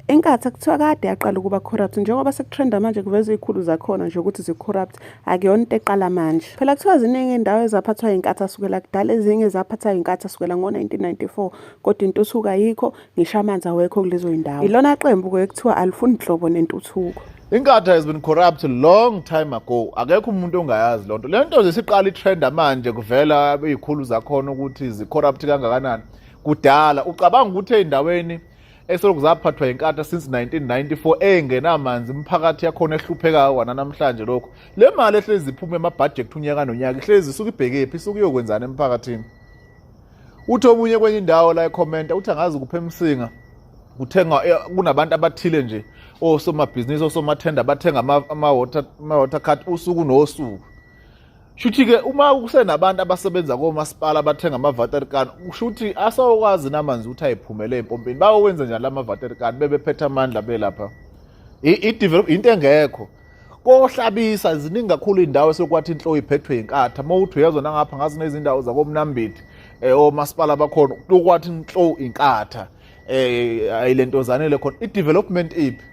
inkathi akuthiwa kade yaqala ukuba corrupt njengoba sekutrenda manje kuveza izikhulu zakhona nje ukuthi zicorrupt akuyona into eqala manje phela kuthiwa ziningi indawo ezaphathwa inkathi asukela kudala ezinye zaphathwa inkathi asukela ngo-1994 kodwa intuthuko ayikho ngisho amanzi awekho kulezo zindawo ilona qembu-ke ekuthiwa alifuni nhlobo nentuthuko Inkatha has been corrupt long time ago. Akekho umuntu ongayazi lonto. Lento nje siqala itrend manje kuvela izikhulu zakhona ukuthi zicorrupt kangakanani. Kudala ucabanga ukuthi endaweni esolokhu zaphathwa inkatha since 1994 engenamanzi imphakathi yakhona ehluphekayo wana namhlanje lokho. Le mali ehlezi iphuma emabudget unyaka nonyaka ihlezi isuke ibhekephi isuke iyokwenzana emphakathini. Uthi omunye kwenye indawo la ekhomenta uthi angazi kuphe emsinga. kuthengwa eh, kunabantu abathile nje osomabhizinisi osomathenda bathenga ama-water ama card usuku nosuku shuthi-ke uma kusenabantu abasebenza komasipala abathenga ama-vaterican kushuthi asawokwazi namanzi ukuthi ayiphumele empompini bayowenza njani la ma-vaterican bebephethe amandla belapha into engekho kohlabisa ziningi kakhulu indawo esekwathi inhlo iphethwe inkatha uma uthi uyezwa nangapha ngazi nezindawo zakomnambiti eh omasipala bakhona ukwathi inhlo inkatha eh ayilentozane le khona i-development iphi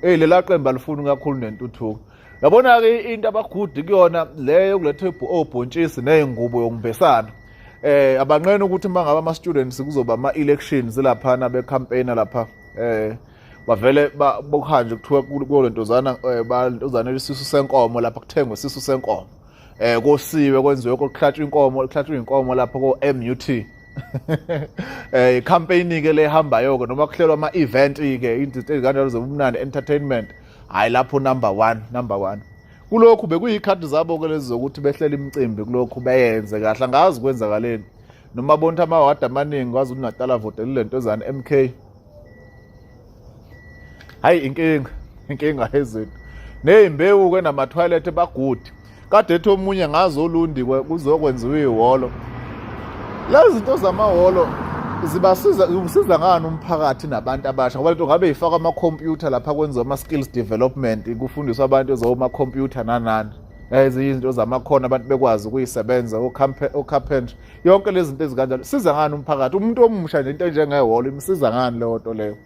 eh lela qembu alifuni kakhulu nentuthuko yabona-ke into abagudi kuyona leyo yokuletha obhontshisi ney'ngubo yokumbesana eh abanqena ukuthi uma ngaba ama-students kuzoba ama-elections laphana becampaigna lapha eh bavele bokuhanje kuthiwa kuyo lentozana eh, balentozana isisu senkomo lapha kuthengwe isisu senkomo eh kosiwe kwenziwe kokuhlatshwa inkomo kuhlatshwa inkomo lapha ko MUT eh icampaign ke lehambayo ke noma kuhlelwa ama event ke into ezikanjalo zobumnandi entertainment hayi lapho number 1 number 1 kulokhu bekuyikhathi zabo ke lezi zokuthi behlela imicimbi kulokhu beyenze kahle angazi kwenzakaleni noma bonta amawadi amaningi kwazi uNatal avotelile lentozana MK hayi inkinga inkinga ezethu neyimbewu ke nama toilet bagudi kade ethi omunye ngazo olundi kuzokwenziwa ihholo lezi zinto zamahholo zibasiza zisiza ngani umphakathi nabantu abasha ngoba lento ngabe ifaka ama computer lapha kwenziwa ama skills development kufundiswa abantu ezoma computer nanani ezinye izinto zamakhono abantu bekwazi ukuyisebenza o carpentry yonke lezi zinto ezikanjalo siza ngani umphakathi umuntu omusha nje into enjengehholo imsiza ngani leyo nto leyo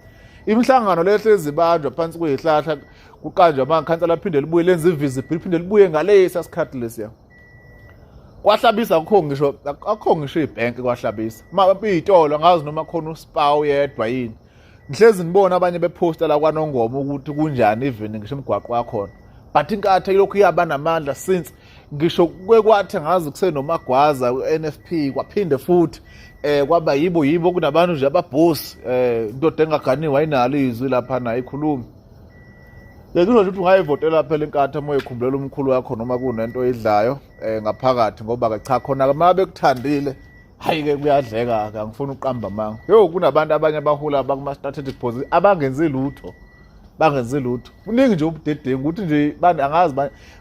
imihlangano leyo hlezi ibanjwa phansi kuyihlahla kuqanjwa amakhansa laphinde libuye lenza ivisible liphinde libuye ngalesa sikhathi lesiya kwahlabisa akukho ngisho akukho ngisho ibhenki kwahlabisa uma iy'tolo angazi noma khona usipa uyedwa yini ngihlezi ngibona abanye bephosta la kwanongoma ukuthi kunjani even ngisho imigwaqo yakhona but inkatha ilokhu iyaba namandla since ngisho kwekwathi ngazi kusenomagwaza u-nfp kwaphinde futhi eh kwaba yibo yibo kunabantu nje ababhosi eh indoda engaganiwe ayinalo izwi lapha naye ikhulumi Ngikusho ukuthi ungayivotela phela inkatha uma uyikhumbulela umkhulu wakho noma kunento oyidlayo eh ngaphakathi ngoba ke cha khona ke uma bekuthandile hayi-ke kuyadleka-ke angifuni ukuqamba amanga yo kunabantu abanye abahula bakuma-strategic position abangenzi lutho bangenzi lutho kuningi nje ubudedengu ukuthi nje angazi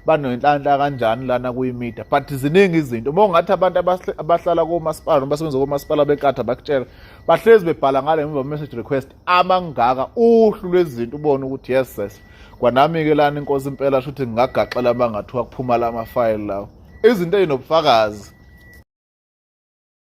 banoyinhlanhla kanjani lana kuyimida but ziningi izinto uma ungathi abantu abahlala komasipala noma basebenza komasipala benkatha bakutshela bahlezi bebhala ngale mva message request amangaka uhlu lwezinto ubone ukuthi yes sis kwanami-ke lani inkosi impela sho ukuthi ngingagaxela uma ngathiwa kuphuma la mafayili lawo izinto ezinobufakazi